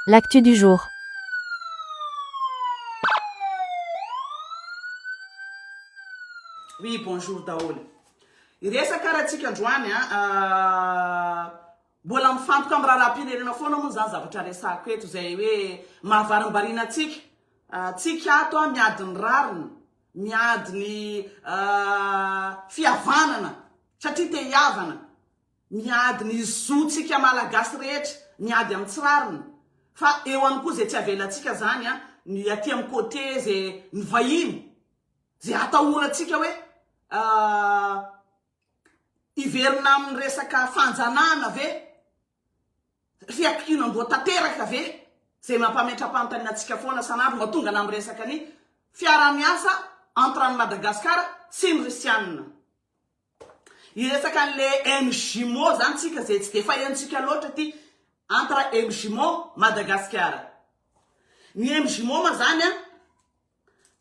L'actu du jour. Oui bonjour daholo. Hiresaka ary atsika androany a. Mbola mifantoka amin'ny raharaham-pirenena foana moa izany zavatra resahako eto izay hoe mahavarimbariana antsika. Tsika ato a miady ny rariny, miady ny fihavanana satria te hihavana. Miady ny zo tsika malagasy rehetra miady am tsy rariny fa eo any koa ze tsy avelantsika zany a ny aty am côté ze ny vahiny ze atahorantsika hoe hiverina am ny resaka fanjanahana ve fiakianandoha tanteraka ve ze mampametrapantanina atsika foana sanandro mba tongana am resaka ny fiaramiasa entre any Madagascar sy ny risianina. Hiresaka anle MJ Mo zany tsika zay tsy de fahentsika loatra ty entre MJ Mo Madagasikara. Ny MJ Mo ma zany an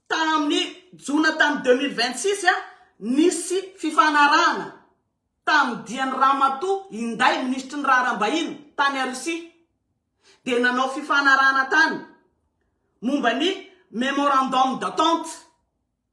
tamin'ny jona tamin'ny deux mille vingt six an nisy fifanarahana tamin'ny dian'i Ramatoa Inday minisitry ny raharaham-bahiny tany a Russie dia nanao fifanarahana tany momba ny memorandum d'entente.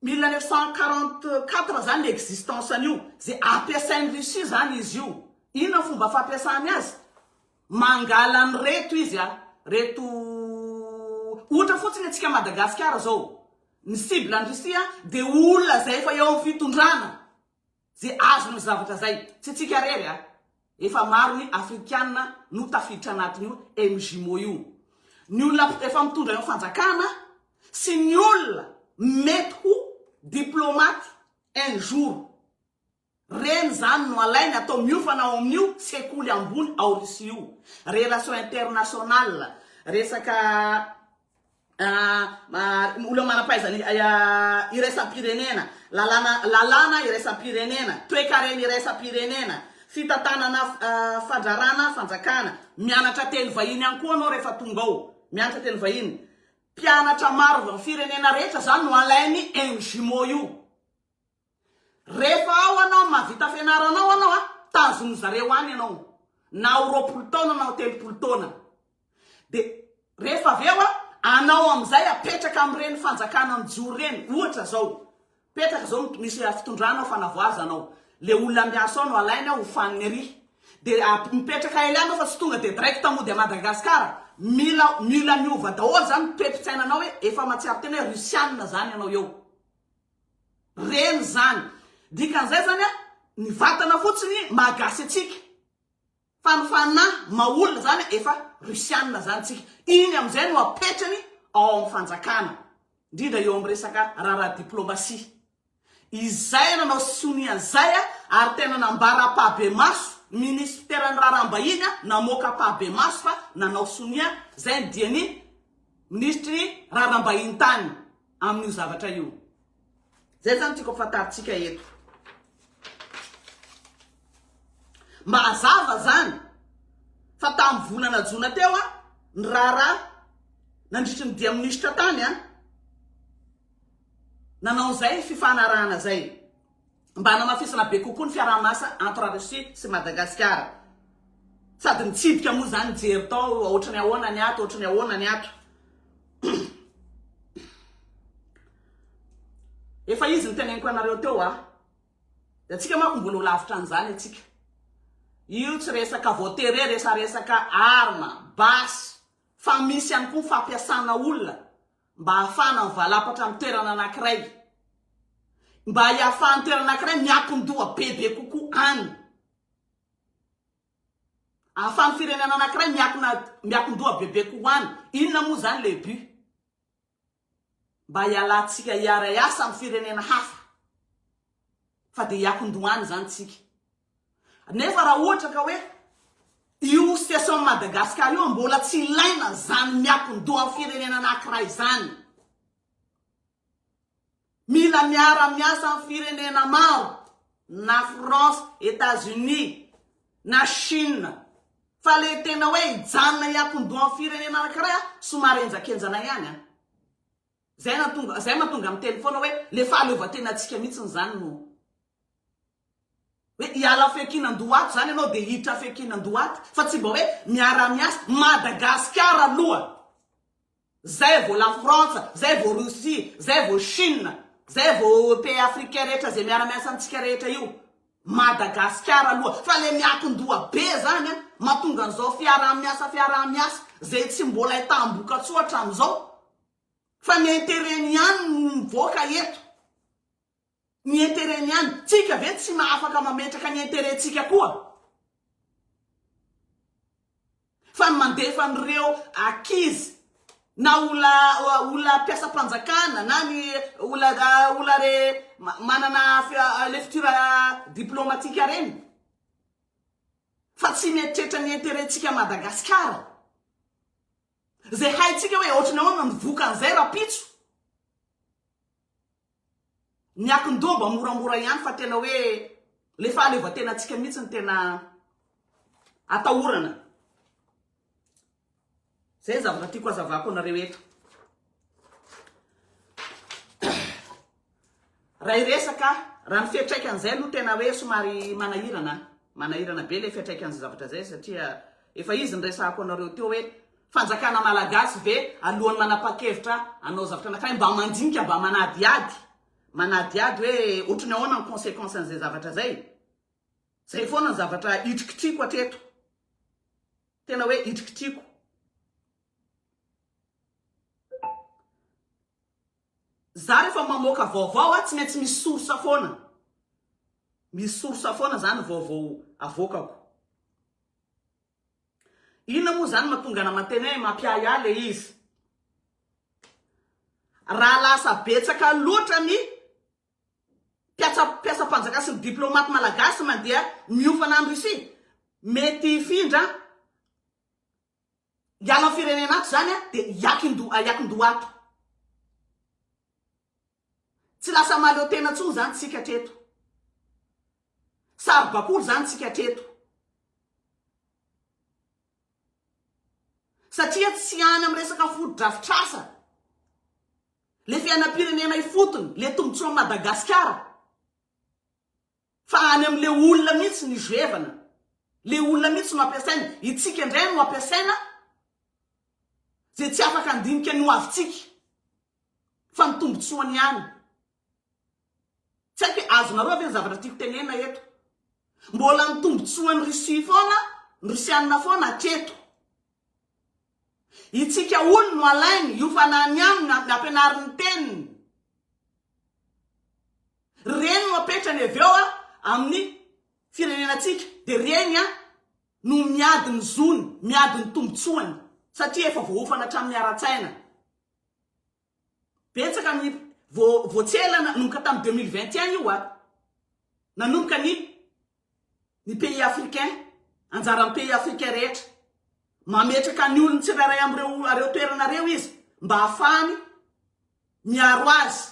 Mille neuf cent quarante quatre zany existence an'io, ze ampiasain'i Russie zany izy io, inona ny fomba fampiasany azy? mangala an'ireto izy a, reto ohatra fotsiny antsika Madagasikara zao, ny cible an'i Russie dia olona zay efa eo amin'ny fitondrana, Ze azony zavatra zay. Tsy tsika rery a. Efa maro ny afrikana no tafiditra anatin'io MJMO io. Ny olona efa mitondra eo fanjakana sy ny olona mety ho diplomate un jour. Reny zany no alainy atao miofana ao amin'io sekoly ambony ao Russie io. Relation internationale, resaka. olona manam-pahaizana iraisam-pirenena, lalàna lalàna iraisam-pirenena, toekarena iraisam-pirenena, fitantanana fandrarana fanjakana. Mianatra teny vahiny ihany koa anao rehefa tonga ao, mianatra teny vahiny. Mpianatra maro avy amin'ny firenena rehetra izany no alain'ny MJMO io. Refa ao anao mavita fianaranao anao a tazony zareo any anao na ho roapolo taona na ho telopolo taona de refa avy eo a anao amizay apetraka amreny fanjakana mijoro reny ohatra zao petraka zao misy fitondrana fanavoaza anao le olona miasa ao no alainy ao hofaniny ary de mipetraka ely anao fa tsy tonga de direct mody a Madagascar mila mila miova daholo zany toe-pitsainanao hoe efa matsiaro tena hoe rusianina zany anao eo Reny zany. Dikan'izay zany a, ny vatana fotsiny maha gasy antsika. Fa ny fanahy maha olona zany efa rusiana zany tsika. Iny amin'izay no apetrany ao amin'ny fanjakana. Indrindra eo amin'ny resaka raharaha diplomasia. Izay nanao sonia an'izay a, ary tena nambara ampahibemaso, minisiteran'ny raharaham-bahiny a, namoaka ampahibemaso fa nanao sonia, izay ny dian'ny minisitry ny raharaham-bahiny tany. amin'io zavatra io. Zay zany tiako afantarintsika eto. Mba hazava zany fa tamin'ny volana jona teo a ny raharaha nandritry ny dia minisitra tany a nanao izay fifanarahana zay. mba hanamafisana be kokoa ny fiaraha-miasa entre Russie sy Madagasikara. Sady nitsidika moa izany nijery tao ohatry ny ahoana ny ato, ohatry ny ahoana ny ato. Efa izy ny teneniko anareo teo a. Dia antsika manko mbola ho lavitra an'izany antsika. Io tsy resaka voatery resaresaka arma, basy, fa misy ihany koa ny fampiasana olona mba hahafahana mivalapatra amin'ny toerana anankiray, mba hiafahan'ny toerana anankiray miankin-doha bebe kokoa any, hahafahan'ny firenena anankiray miankina miankin-doha bebe kokoa any. Inona moa izany le but? Mba hialantsika hiara-hiasa amin'ny firenena hafa fa dia hiankin-doha any izany tsika. Nefa raha ohatra ka hoe io situation Madagascar io mbola tsy ilaina zany miakon-doha firenena anakiray zany. Mila miara-miasa amin'ny firenena maro na France, Etats-Unis, na Chine. Fa le tena hoe hijanona hiakon-doha amin'ny firenena anakiray somary enjakenjana ihany an. Zay na tonga zay matonga miteny foana hoe le fahaleovantenantsika mihitsy zany no Hoe hiala fekinan-dohato zany ianao dia hiditra fekinan-dohato fa tsy mba hoe miara-miasa. Madagasikara aloha, zay vao la frantsa, zay vao rosia, zay vao chine, zay vao pays africain rehetra zay miara-miasa amintsika rehetra io. Madagasikara aloha fa le miakin-doha be zany an, mahatonga an'izao fiaraha-miasa fiaraha-miasa zay tsy mbola ahitam-bokatsoa hatramin'izao fa ny interet-ny ihany no mivoaka eto. Ny interet ny any, tsika ve tsy afaka mametraka ny interet tsika koa? Fa ny mandefa an'ireo akizy na ola ola mpiasam-panjakana na ny ola ola re manana lefitira diplomatika reny fa tsy mieritreritra ny interet tsika Madagasikara. Zay haitsika hoe ohatry ny ahoana ny vokan'izay rapitso. Ny akin-doha moramora ihany fa tena hoe ilay fahaleovantenantsika mihitsy no tena atahorana. Izay ny zavatra tiako hazavako anareo eto. Raha iresaka, raha ny fiatraikan'izay aloha tena hoe somary manahirana. Manahirana be ilay fiatraikan'izay zavatra izay satria efa izy ny resahako anareo teo hoe Fanjakana Malagasy ve alohan'ny manapakevitra hanao zavatra anankiray mba mandinika mba manadihady manadihady hoe ohatry ny ahoana ny consequence an'izay zavatra zay? Zay foana ny zavatra hitrikitriko hatreto. Tena hoe hitrikitriko. Za rehefa mamoaka vaovao a tsy maintsy misy source foana. Misy source foana zany vaovao avoakako. Inona moa zany matonga ana mateny hoe mampiahy ahy le izy. Raha lasa betsaka loatra ny mpiatsa mpiasa mpanjaka sy ny diplomate malagasy mandeha miofana any Russie mety hifindra hiala ny firenena ato zany a de hiakindoha hiakindoha ato. Tsy lasa mahaleo tena intsony izany tsika hatreto. Saribakoly izany tsika hatreto. Satria tsy any amin'ny resaka fotodrafitrasa, le fiainam-pirenena ifotony, le tombotsoan'i Madagasikara. Fa any amin le olona mihitsy ny zoevana. Le olona mihitsy no ampiasaina. Itsika indray no ampiasaina ze tsy afaka handinika ny ho avintsika. Fa ny tombotsoany ihany. Tsy haiko hoe azonareo ve ny zavatra tiako tenena eto. Mbola ny tombotsoan'i Russie foana, ny Rusiana foana hatreto. Itsika olo no alainy, io fanahy ny aminy no ampianariny ny teniny. Ry reny no apetrany avy eo amin'ny firenenantsika, dia reny no miady ny zony, miady ny tombotsoany, satria efa voahofana hatramin'ny ara-tsaina. Betsaka ny vo voatsehatra nanomboka tamin'ny deux mille vingt et un io a! Nanomboka ny ny pays africain, anjaran'ny pays africain rehetra. Mametraka ny olony tsirairay amin'ireo ireo toerana ireo izy mba hahafahany miaro azy.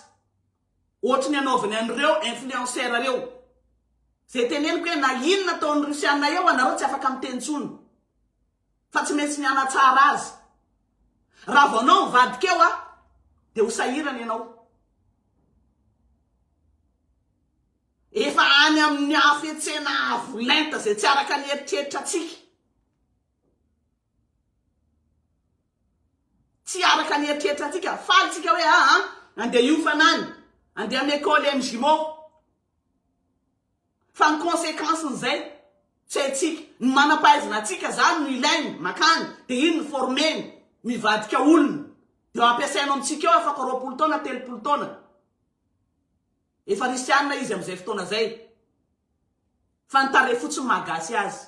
Ohatry ny anaovany an'ireo influenceurs ireo. Izay teneniko hoe na inona ataon'ny Russiana eo anareo tsy afaka miteny intsony. fa tsy maintsy mianatsara azy. Raha vao anao mivadika eo a, dia ho sahirana ianao. Efa any amin'ny hafetsena avo lenta izay tsy araka ny eritreritra antsika. Tsy araka ny eritreritra antsika. Faly tsika hoe aa, andeha hiofana any, andeha amin'ny école MJMO. Fa ny consequence n'izay tsy haintsika. Ny manam-pahaizana antsika zany no ilainy, makany, dia iny no former-ny, mivadika olona. Dia ao ampiasainy ao amintsika ao afaka roapolo taona, telopolo taona. Efa risianina izy amin'izay fotoana zay. Fa ny tarehy fotsiny mahagasy azy.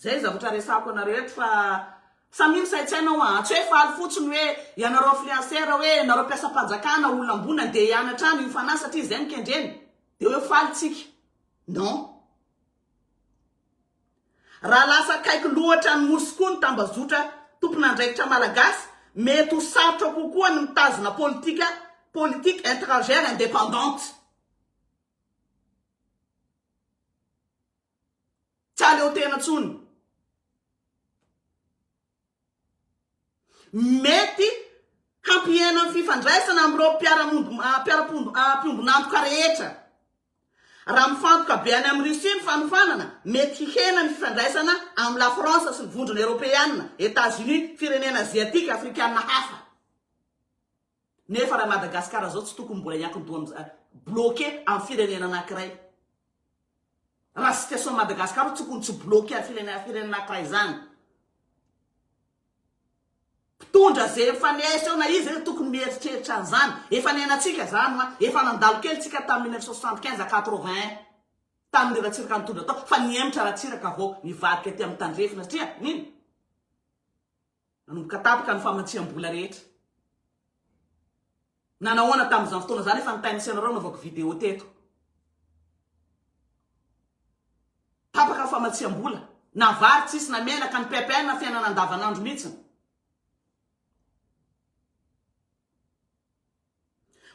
Zay zavatra resahako anareo eto fa samia misaintsaina hoa a! Tsy hoe faly fotsiny hoe ianareo influenceurs hoe ianareo mpiasam-panjakana olona ambony andeha hianatra any UFANA satria izay no kendreny dia hoe faly tsika. Non. Raha lasa akaiky loatra ny Nosy koa ny tambazotra tompon'andraikitra malagasy, mety ho sarotra kokoa ny mitazona politika, politique etrangère indépendante. Tsy aleo tena tsony. Mety hampihena ny fifandraisana amin'ireo mpiombon'antoka rehetra. Raha mifantoka be any amin'i Russie ny fanofanana, mety hihena ny fifandraisana amin'i Lafrantsa sy ny Vondrona Eoropeana, Etats-Unis, firenena aziatika, afrikana hafa. Nefa raha Madagascar zao tsy tokony mbola hiankin-doha am bloqué am firenena anakiray. Raha situation Madagascar tsy tokony tsy bloqué am firenena firenena anakiray zany. Mpitondra ze mifanesy eo na iza iza tokony mieritreritra an'zany. Efa niainatsika zany hoa, efa nandalo kely tsika tam 1975 à 81 tamin Ratsiraka nitondra tao fa nihemotra Ratsiraka vao nivadika aty am Tandrefy satria nino? Nanomboka tapaka ny famatsiam-bola rehetra. Nanao ahoana tamin'izany fotoana izany efa nitain'ny Senarao navaoko vidéo teto. Tapaka ny famatsiam-bola. Na vary tsisy na menaka ny PPN na fiainana andavanandro mihitsy.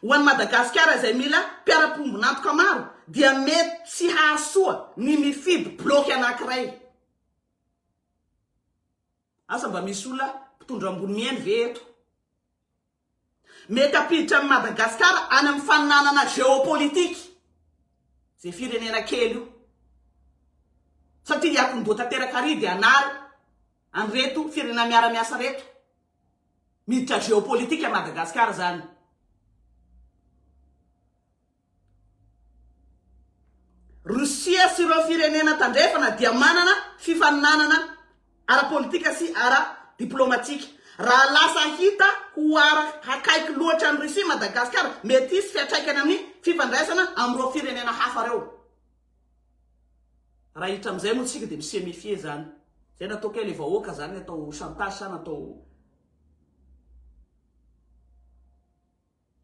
Ho an'i Madagasikara izay mila mpiara-pombon'antoka maro dia mety tsy hahasoa ny mifidy bloc anankiray. Asa mba misy olona mpitondra ambony mihaino ve eto? Mety hampiditra an'i Madagasikara any amin'ny faninanana géopolitique izay firenena kely io. Satria hiatomboha tanteraka ary dia hanary an'ireto firenena miara-miasa reto. Miditra géopolitique an'i Madagasikara izany. Russia sy ireo firenena tandrefana dia manana fifaninanana ara-politika sy ara-diplomatika. Raha lasa hita ho ara hakaiky loatra an'i Russie i Madagasikara, mety hisy fiantraikany amin'ny fifandraisana amin'ireo firenena hafa ireo. Raha hiditra amin'izay moa isika dia mi se mefier izany. Izay natao kay ilay vahoaka izany atao chantage sa natao.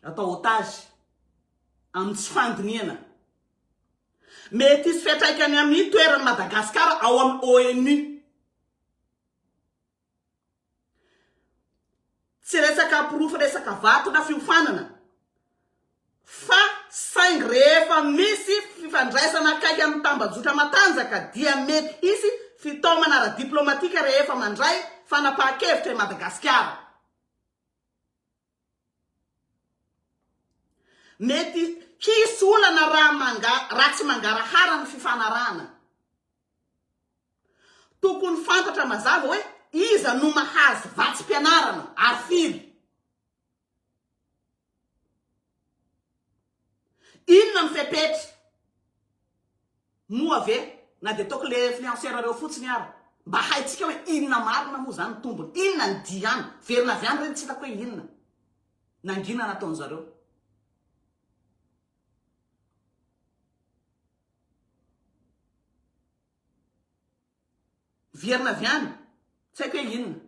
Atao otage amin'ny tsy fandinihana. Mety hisy fiantraikany amin'ny toeran'i Madagasikara ao amin'ny ONU. Tsy resaka porofo resaka vato na fiofanana fa saingy rehefa misy fifandraisana akaiky amin'ny tambajotra matanjaka dia mety hisy fitaomana ara-diplaomatika rehefa mandray fanapahan-kevitra i Madagasikara. Mety hisy olana raha manga, raha tsy mangarahara ny fifanarahana. Tokony fantatra mazava hoe iza no mahazo vatsim-pianarana ary firy. Inona ny fepetra? Moa ve na dia ataoko le influenceur reo fotsiny ara? Mba haintsika hoe inona marina moa zany ny tombony? Inona ny diany? Verina avy any reny tsy hitako hoe inona? Nangina nataon'zareo? Vierna avy any, tsy haiko hoe inona.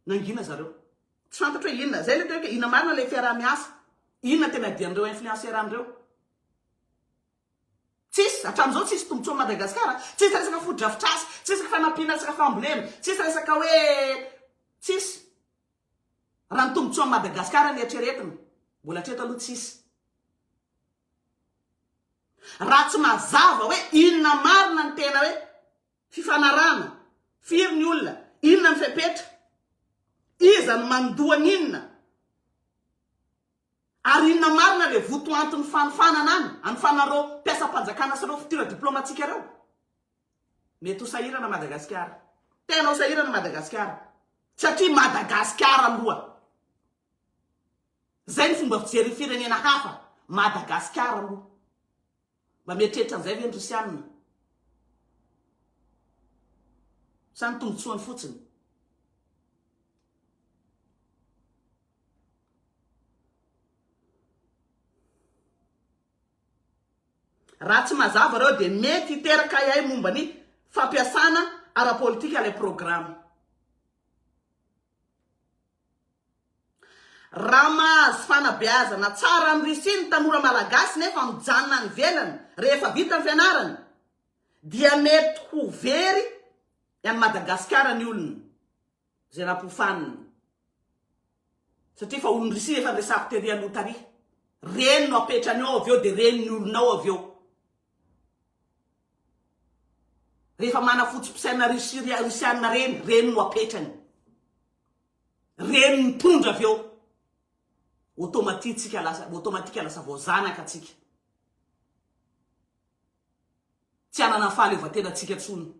Nangina zareo. Tsy fantatro hoe inona. Zay le tena hoe inona marina le fiaraha-miasa. Inona tena adian'ireo influencers reo. Tsisy, hatramin'izao tsisy tombotsoan'i Madagasikara. Tsisy resaka fotodrafitrasa, tsisy resaka fanampiana resaka fambolena, tsisy resaka hoe tsisy. Raha ny tombotsoan'i Madagasikara no eritreretina, mbola hatreto aloha tsisy. Raha tsy mazava hoe inona marina ny tena hoe fifanarahana, firy ny olona, inona ny fepetra, iza no mandoa ny inona, ary inona marina ilay votoanton'ny fanofanana any amin'ny fanan'ireo mpiasam-panjakana sy ireo fitora diplaomatika ireo? Mety ho sahirana Madagasikara. Tena ho sahirana Madagasikara. Satria Madagasikara aloha Zay ny fomba fijery ny firenena hafa, Madagascar aloha mba mieritreritra an'izay ve ny Russiana? Sa ny tombotsoany fotsiny? Raha tsy mazava reo dia mety hiteraka ahiahy momba ny fampiasana ara-politika ilay programa. Raha mahazo fanabeazana tsara any Russie ny tanora malagasy nefa mijanona any ivelany rehefa vita ny fianarany dia mety ho very any Madagasikara ny olona izay nampofanina satria fa olon'i Russie efa resako tery aloha tary. Reny no apetrany ao avy eo dia reny ny olona ao avy eo. Rehefa mana foto-pisaina Russie, Russiana reny, reny no apetrany. Reny mitondra avy eo. Automatique tsika lasa, automatique lasa vao zanaka tsika. Tsy anana fahaleovantena tsika tsony.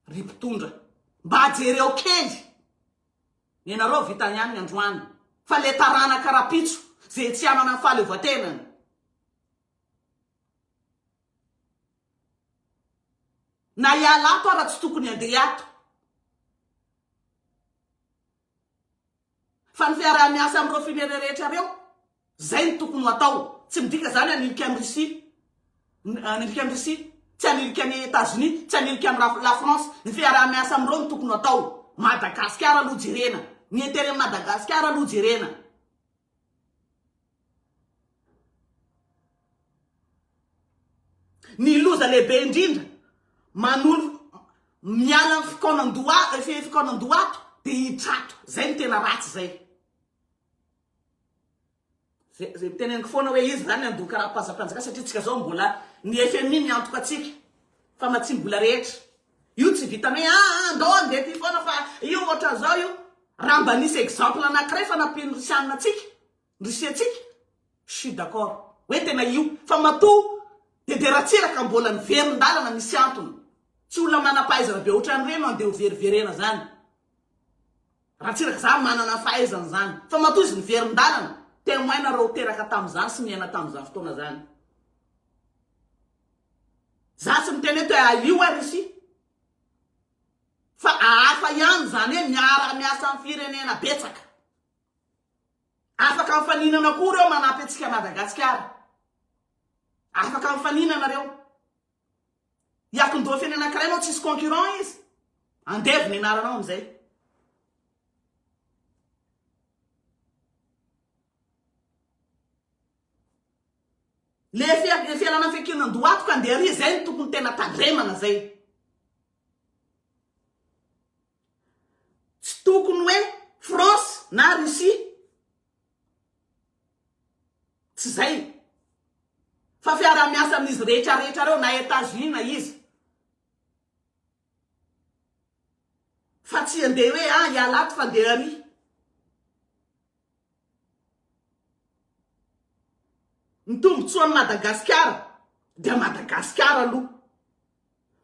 Ry mpitondra, mba jereo kely. Ny anareo vita ihany ny androany. Fa le taranaka rapitso, ze tsy anana fahaleovatenany. Na hiala ato ara tsy tokony handeha ato. Fa ny fiaraha-miasa amin'ireo firenena rehetra ireo, izay no tokony ho atao. Tsy midika izany hanilika an'i Russie, hanilika an'i Russie, tsy hanilika an'i Etazonia, tsy hanilika an'i Raf- la France. Ny fiaraha-miasa amin'ireo no tokony ho atao. Madagasikara aloha jerena. Ny intérêt Madagasikara aloha jerena. Ny loza lehibe indrindra, manolo miala ny fikaonan-doha, fe fikaonan-doha ato dia hiditra ato. Zay no tena ratsy zay. Zay zay teneniko foana hoe iza zany handoa karapanzam-panjakana satria tsika zao mbola ny FMI miantoka antsika fa matsim-bola rehetra. Io tsy vitanay ah, ah andao andeha ty foana fa io ohatran'izao io. Raha mba nisy exemple anankiray fa nampian'ny Risianina antsika Risiantsika? Je suis d'accord hoe tena io fa matoa Bebe Ratsiraka mbola niverin-dalana misy antony. Tsy olona manam-pahaizana be otran'ireny no andeha ho veriverena zany. Ratsiraka zany manana ny fahaizany zany fa matoa izy niverin-dalana, temoin nareo teraka tamin'izany sy niaina tamin'izany fotoana zany. Za tsy miteny eto hoe alio ary isi fa ahafa ihany zany hoe miara-miasa amin'ny firenena betsaka. Afaka mifaninana koa reo manampy antsika Madagatsikara. Afaka mifaninana reo. Iakondofy any anakiray anao tsisy concurrent izy. Andevo ny anaranao amizay. Le fialana fekena ndoato ka ndeha ry zay ny tokony tena tandremana zay. Tsy tokony hoe France na Russie. Tsy izay. Fa fiarahamiasa amin'izy rehetra rehetra reo na Etats Unis na iza. Fa tsy andeha hoe ah ialahy ato fa andeha ary. Ny tombotsoan'i Madagasikara dia Madagasikara aloha.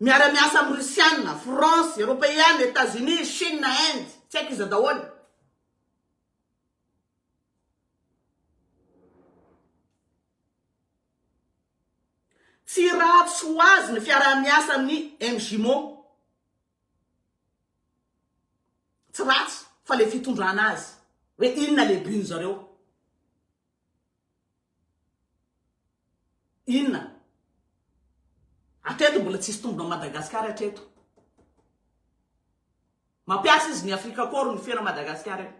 Miara miasa amin'ny Russiana, France, Eropeana, Etats Unis, Chine, Inde, tsy haiko iza daholo. Tsy ratsy ho azy ny fiaraha-miasa amin'ny MJMO. Tsy ratsy fa le fitondrana azy hoe inona le but nzareo. Inona? Atreto mbola tsisy tombona Madagascar atreto. Mampiasa izy ny Afrika Koro ny fiana Madagascar io.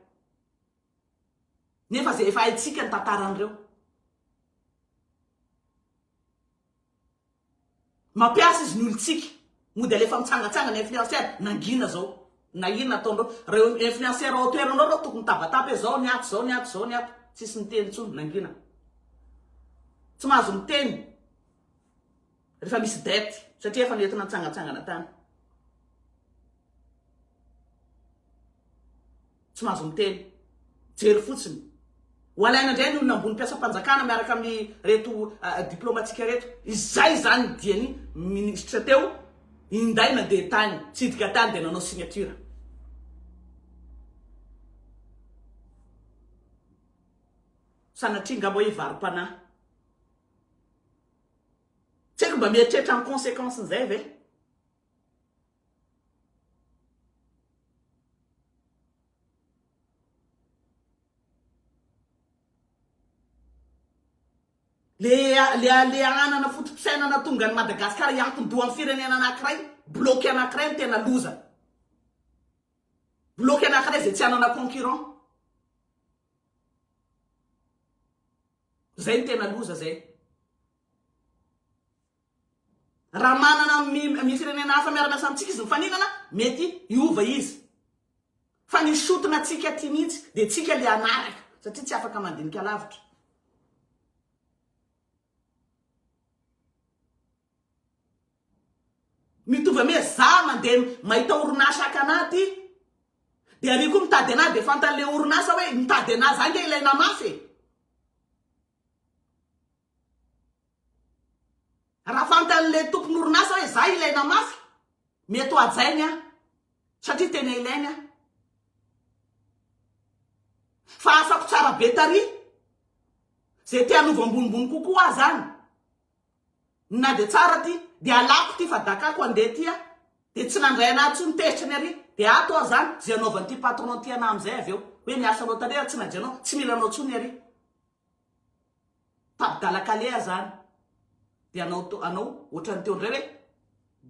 Nefa ze efa haitsika ny tantaran'ireo. Mampiasa izy ny olontsika. Mody alefa mitsangatsangana influenceur. Nangina zao. Na inona ataonreo. Reo influenceur ao toeranao reo tokony mitabataba hoe zao ny ato zao ny ato zao ny ato. Tsisy miteny intsony. Nangina. Tsy mahazo miteny. Refa misy dette. Satria efa nentina nitsangatsangana tany. tsy mahazo miteny. Jery fotsiny. Ho alaina indray ny olona ambony mpiasam-panjakana miaraka amin'ireto diplaomatika ireto. Izay izany ny diany minisitra teo, inday nandeha tany, tsidika tany dia nanao signature. Sanatria ngamba hoe varom-panahy. Tsy haiko mba mieritreritra ny conséquence-n'izay ve? Ilay halehanana foto-pisainana tonga an'i Madagasikara hiankin-doha amin'ny firenena anankiray, bloc anankiray no tena loza. Bloc anankiray izay tsy hanana concurrent. Izay no tena loza izay. Raha manana amin'ny firenena hafa miara-miasa amintsika izy mifaninana, mety hiova izy. Fa ny sotona antsika aty mihitsy dia tsika ilay hanaraka, satria tsy afaka mandinika lavitra. Mitovy amy hoe za mandeha mahita orinasa haka anà aty, dia àry koa mitady anà, dia fantan'ilay orinasa hoe nitady anà za ange ilay namafy e! Raha fantan'ilay tompon'orinasa hoe zah ilaina mafy, mety ho hajainy aho satria tena ilainy aho. Fa afako tsara be tary zay te hanova ambonimbony kokoa aho zany. Na dia tsara ty, dia halako ty fa dakako handeha ty aho. Dia tsy nandray anah tsony tezitra ny ary, dia ato aho zany, zay hanaovan'ity patron ty anah amizay avy eo. Hoe miasa loatra re ary tsy najanao, tsy mila anao tsony ary. Tabdala kaleha zany de anao anao otrany teo ndray hoe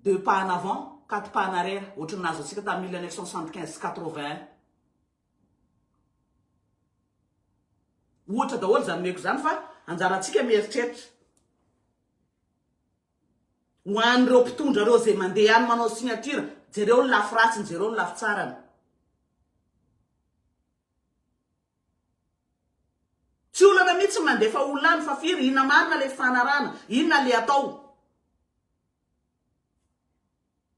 deux pas en avant quatre pas en arrière otrany nahazo antsika tam mille neuf cent soixante quinze sy quatre vingt un ohatra daholo zany omeko zany fa anjarantsika mieritreritra ho an'ireo mpitondra reo zay mandeha any manao signature jereo ny lafy ratsiny jereo ny lafy tsarany Tsy olana mitsy ny mandefa olona any fa firy inona marina le fifanarahana inona le atao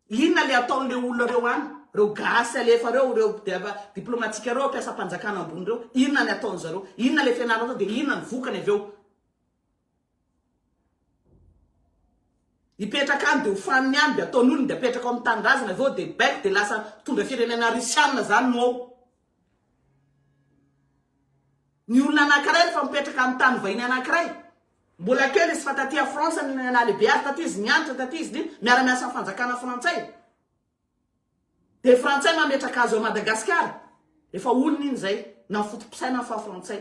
inona le atao le olona reo any reo gasy alefa reo reo diplomatika reo mpiasam-panjakana ambony reo inona ny ataony zareo inona le fianarana atao de inona ny vokany avy eo Hipetraka any dia ho faniny any dia ataony olony dia apetraka ao amin'ny tanindrazany avy eo dia baiko dia lasa mpitondra firenena risianina zany no ao. Ny olona anakiray rehefa mipetraka amin'ny tany vahiny anakiray mbola kely izy fa taty a France no nalehibe azy taty izy nianatra taty izy nino miara miasa amin'ny fanjakana frantsay dia frantsay mametraka azy ao Madagasikara efa olony iny zay na ny foto-pisainany fa frantsay.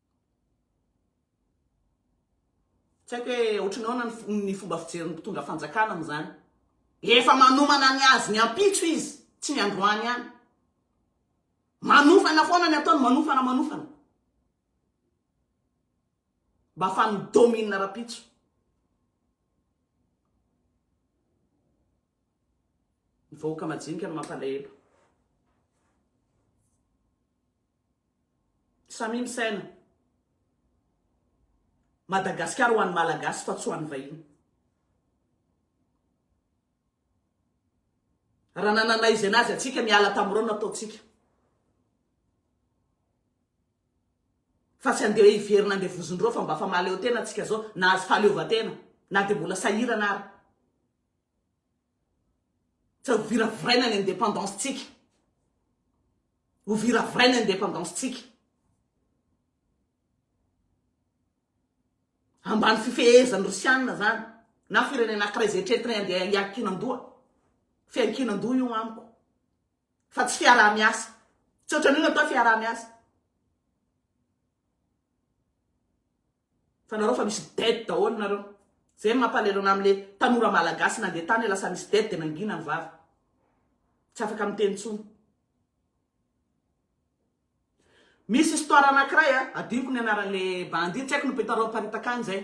Tsy haiko hoe ohatran'ny ahoana ny fo- ny fomba fijerin'ny mpitondra fanjakana amin'izany. Efa manomana ny azony ampitso izy, tsy ny androany ihany. Manofana foana ny ataony, manofana, manofana. Mba ahafahan'ny mi-domine rahampitso. Ny vahoaka majinika no mampalahelo. Samia misaina. Madagasikara ho an'ny Malagasy fa tsy ho an'ny vahiny. Raha nanana izay nazy antsika niala tamin'ireo no ataontsika. Fa tsy andeha hiverina andeha vozon'ireo fa mba fa mahaleo tena antsika zao nahazo fahaleovantena na dia mbola sahirana ary. Fa ho viraviraina ny indépendance tsika. Ho viraviraina ny indépendance tsika. Ambany fifehezan'ny Rosiana zany na firenena ankiray zay eritreritray andeha hiankinan-doha. Fiankinan-doha io amiko. Fa tsy fiaraha-miasa. Tsy ohatran'io natao fiaraha-miasa. Fanarao fa misy dette daholo nareo. Zay no mampalelo anah amle tanora malagasy nandeha tany lasa misy dette de nangina ny vava. Tsy afaka miteny tsony. Misy histoire anakiray a, adinoko ny anaranle bandit, tsy aiko ny mpitarao haparitaka any zay.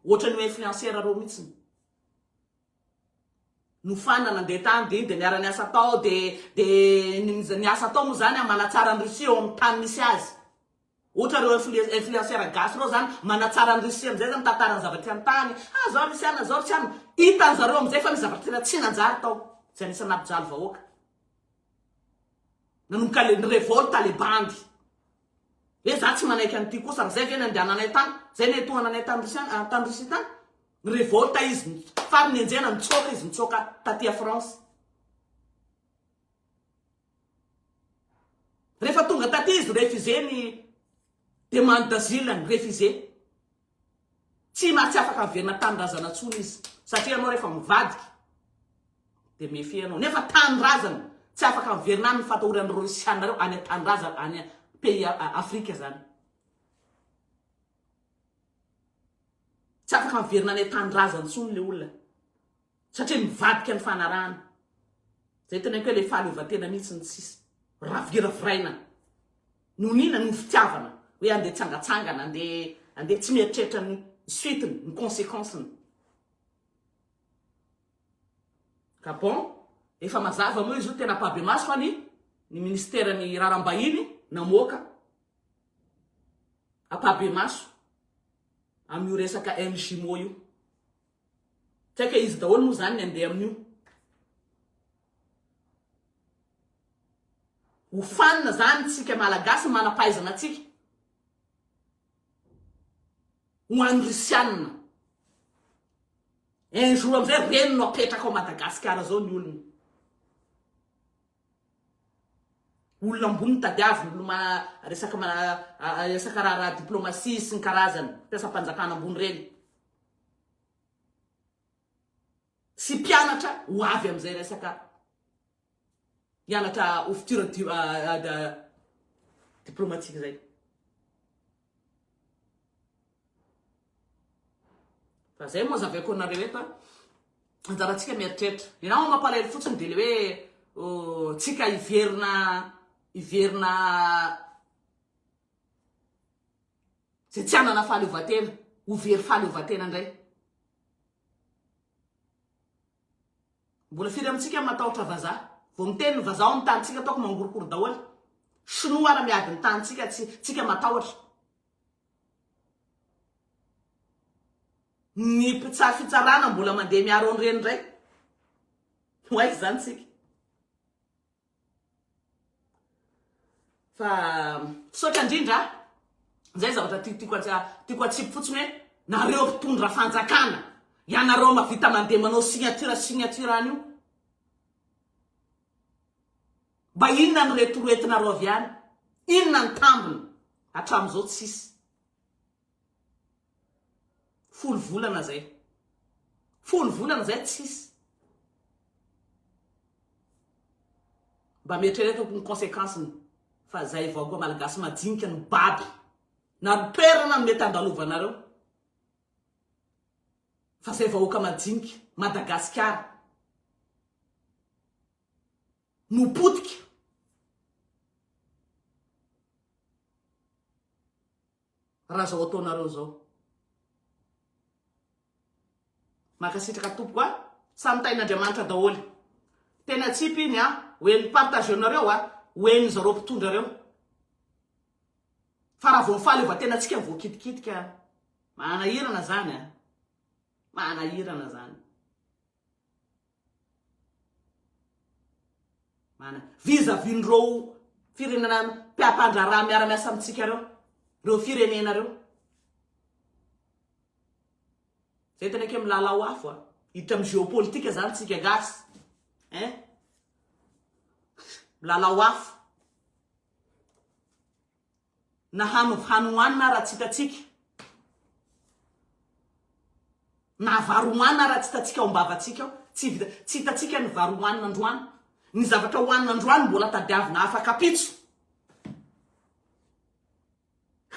Ohatrany hoe influenceur reo mitsiny. No fan nandeha tany de iny de niara niasa tao de de ny asa atao mo zany a manatsara ny Russie eo am tany misy azy. Ohatra reo influenceurs gasy reo zany manatsara an'i Russie amizay zany mitantara ny zava-tsy an-tany, ah zao nisy anona zao nisy anona, hitan'ny zareo amizay fa nisy zavatra tena tsy nanjary tao zay nisy nampijaly vahoaka nanomboka le ni-revolte le bandy hoe za tsy manaiky an'ity kosa ary zay ve nandehananay tany, zay netohananay tany Russiana tany Russie tany, ni-revolte izy faran'ny enjehana nitsoaka izy nitsoaka taty a France. Rehefa tonga taty izy refusé ny demande d'asile-ny, refusé. Tsy na tsy afaka averina tanindrazana intsony izy. Satria ianao rehefa mivadika dia méfier ianao. Nefa tanindrazana, tsy afaka averina any ny fatahoran'ny Rosiana ireo any an-tanindrazana, any pays Afrika izany. Tsy afaka averina any an-tanindrazana intsony ilay olona. satria nivadika ny fanarahana. Zay teneniko hoe le fahaleovantena mihitsy no tsisy. Raviraviraina. Nonina noho fitiavana hoe andeha tsangatsangana, andeha andeha tsy mieritreritra ny suite-ny, ny consequence-ny. Ka bon, efa mazava moa izy io tena ampahibemaso fa ny ny ministeran'ny raharaham-bahiny namoaka ampahibemaso amin'io resaka MJMO io. Saika izy daholo moa izany ny andeha amin'io. Ho fanina izany isika Malagasy ny manam-pahaizana antsika. Ho an'ny Rusiana. Un jour amin'izay reny no apetraka ao Madagasikara izao ny olony. Olona ambony tadiaviny, olona resaka resaka raharaha diplomasia sy ny karazany, mpiasam-panjakana ambony ireny. sy mpianatra ho avy amin'izay resaka hianatra ho futur diplomatique izay. Fa zay moa zavaiko anareo eto a. Anjarantsika mieritreritra. Ianao mampalahelo fotsiny dia le hoe tsika hiverina hiverina Izay tsy hanana fahaleovantena, ho very fahaleovantena indray. Mbola firy amintsika no matahotra vazaha? Vao miteny ny vazaha ao amin'ny tanintsika, ataoko mangorokoro daholo. Shinoa ara miady ny tanintsika, tsy tsika matahotra. Ny mpitsara fitsarana mbola mandeha miaro an'ireny indray. Ho aiza izany isika? Fa misaotra indrindra a! Izay zavatra tiako tiako atsipy fotsiny hoe nareo mpitondra fanjakana, ianareo mahavita mandeha manao signature signature any io, mba inona ny retoretinareo avy any? Inona ny tambiny? Hatramin'izao tsisy. Folo volana zay. Folo volana zay tsisy. Mba mietreretako ny consequence-ny fa zay vahoaka malagasy majinika no baby na ny toerana no mety andalovanareo fa zay vahoaka majinika Madagasikara no potika. Raha zao ataonareo zao. Mankasitraka tompoko a. Samy tahin'Andriamanitra daholo. Tena tsipy iny a. Ho en'ny partage-nareo a. Ho en'ny zareo mpitondra reo. Fa raha vao ny fahaleovantenantsika voakitikitika. Manahirana zany a. Manahirana zany. Manana vis à vis n'ireo firenena mpiampandraharaha miara-miasa amintsika ireo, ireo firenena ireo. Zay tena ke milalao afo a. Hiditra amin'ny géopolitique zany tsika gasy. Hein? Milalao afo. na hano hany hohanina raha tsy hitantsika, na vary hohanina raha tsy hitantsika ao am-bavantsika ao, tsy vita, tsy hitantsika ny vary hohanina androany, ny zavatra hohanina androany mbola tadiavina afak'ampitso,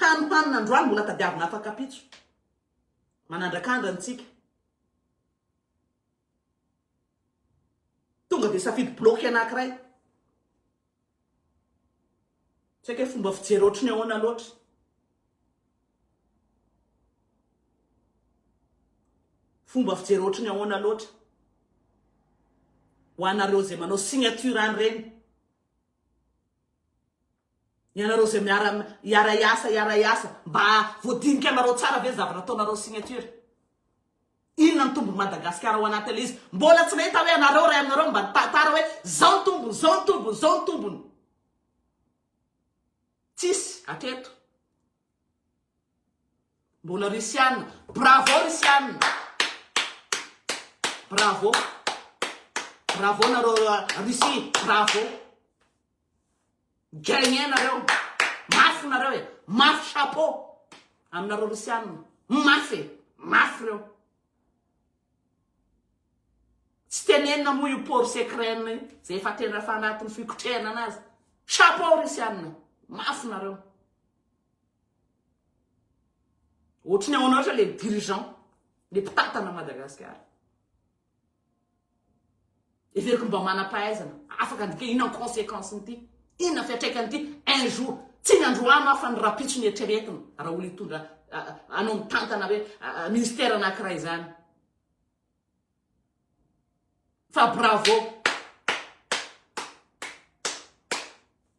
hany hohanina androany mbola tadiavina afak'ampitso, manandrakandra antsika. Tonga dia safidy bloqué anankiray. Tsy haiko hoe fomba fijery ohatry ny ahoana loatra. Fomba fijery ohatry ny ahoana loatra. Ho anareo izay manao signature an'ireny. Ianareo izay miara hiara hiasa hiara hiasa mba voadinika anareo tsara ve ny zavatra ataonareo signature. Inona no tombony Madagasikara ao anatiny ilay izy? Mbola tsy nahita hoe anareo iray aminareo mba nitantara hoe zao ny tombony, zao ny tombony, zao ny tombony. Tsisy aketo. Mbola Rusiana. Bravo Rusiana. Bravo. Bravo nareo Russie. Bravo. Gagner nareo. Mafy nareo e. Mafy chapeau. Aminareo Rosiana. Mafy e. Mafy reo. Tsy tenenina moa io port secret io. Zay efa tena efa anatin'ny fikotrehana anazy. Chapeau Rosiana. Mafy nareo. Ohatry ny ao anao le dirigeant. Le mpitantana Madagasikara. Heveriko mba manam-pahaizana, afaka ny dika, inona ny conséquence-n'ity? Inona fiantraikan'ity? Un jour, tsy ny androany aho fa ny rahampitso ny eritreretiny, raha olona hitondra anao mitantana hoe ministère anankiray izany. Fa bravo!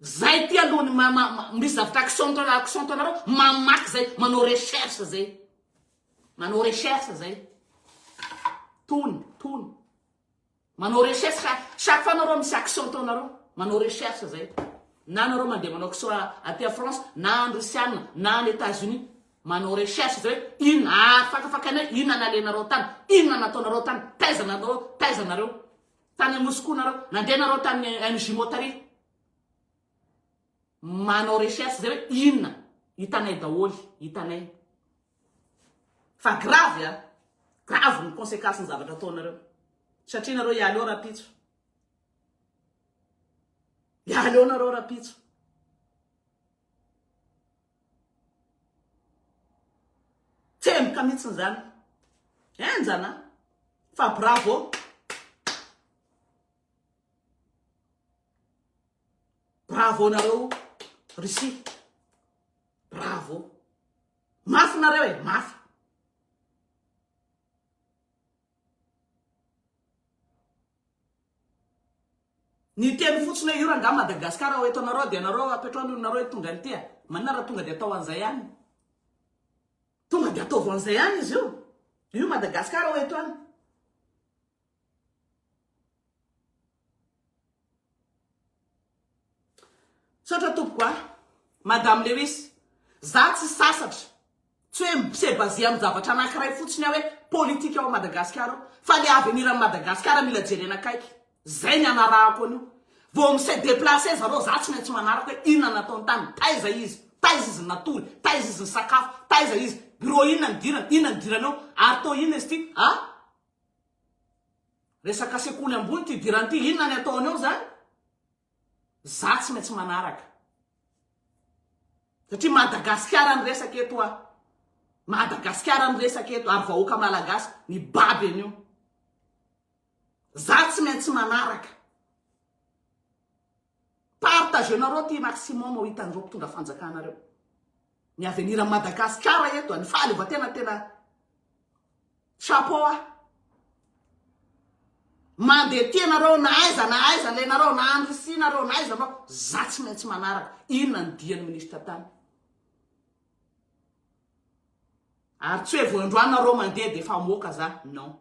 Zay ty aloha ny misy zavatra accent anareo, accent anareo mamaky zay, manao recherche zay. Manao recherche zay. Tony, tony. Manao recherche fa chaque fois nareo misy action ataonareo. Manao recherche zay. Na nareo mandeha manao action aty France, na any Russiana, na any États-Unis. Manao recherche zay. Inona ah, fakafakanay, inona nalenareo tany, inona nataonareo tany, taiza nareo, taiza nareo. Tany Moscou nareo, nandeha nareo tany MJ Motari. Manao recherche zay hoe inona, hitanay daholo, hitanay. Fa gravy an! Gravy ny consequence ny zavatra ataonareo. Satria nareo hialy eo rapitso. Hialy eo nareo rapitso. Tsemboka mihitsy zany. Enjana. Fa bravo. Bravo nareo Russie. Bravo. Mafy nareo e, mafy. Ny teny fotsiny hoe io rangaha Madagascar ao eto anareo dia anareo apetrao ny olonareo eto tonga an'ity a. Manina raha tonga dia atao an'izay any. Tonga dia ataovy an'izay any izy io. Io Madagascar ao eto any. Misaotra tompoko a! Madame Lewis, za tsy sasatra, tsy hoe mi-se baser amin'ny zavatra anankiray fotsiny aho hoe politika ao Madagasikara ao, fa le avenir an'i Madagasikara mila jerena akaiky, zay ny anarahako an'io, vao mi-se deplacer zareo za tsy maintsy manaraka hoe inona no nataony tany, taiza izy, taiza izy natory, taiza izy nisakafo, taiza izy, bureau inona nidirany, inona nidirany ao, ary to inona izy ty a! Resaka sekoly ambony ty hidirany ty, inona ny ataony ao zany? Za tsy maintsy manaraka. Satria Madagasikara ny resaka eto a. Madagasikara ny resaka eto ary vahoaka malagasy mibaby an'io. Za tsy maintsy manaraka. Partagez nareo ty maximum ho hitan'ireo mpitondra fanjakana reo ny avenir Madagascar eto ny fahaleovantena tena chapeau ah mandeha tia nareo na aiza na aiza le nareo na any Russie nareo na aiza nareo za tsy maintsy manaraka inona ny dian'ny ministre tany ary tsy hoe vao androany nareo mandeha de efa moka za non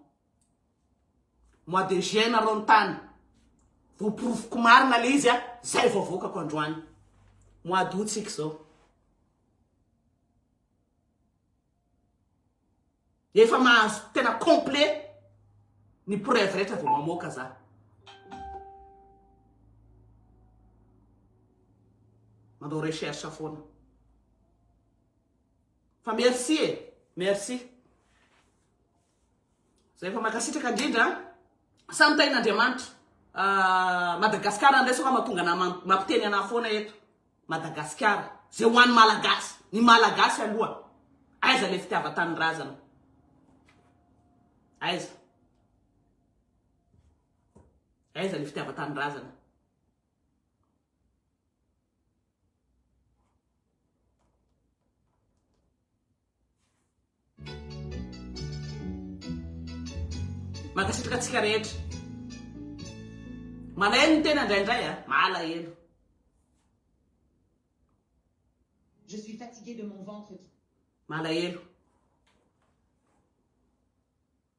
Mois de juin nareo nitany. Voporofoko marina le izy a, zay vao avoakako androany. Mois d'août tsika izao. Efa mahazo tena complet ny preuve rehetra vao mamoaka za. Manao recherche foana. Fa merci e, merci. Zay fa mankasitraka indrindra a. Samy tahin'Andriamanitra. Ah Madagascar ndray sao ka mahatonga anah mampiteny anah foana eto. Madagascar. Zay ho an'ny Malagasy. Ny Malagasy aloha. Aiza le fitiavan-tanindrazana. Aiza. Aiza le fitiavan-tanindrazana. Mankasitraka antsika rehetra. Malahelo ny tena indraindray a, malahelo. Je suis fatiguée de mon ventre qui. Malahelo.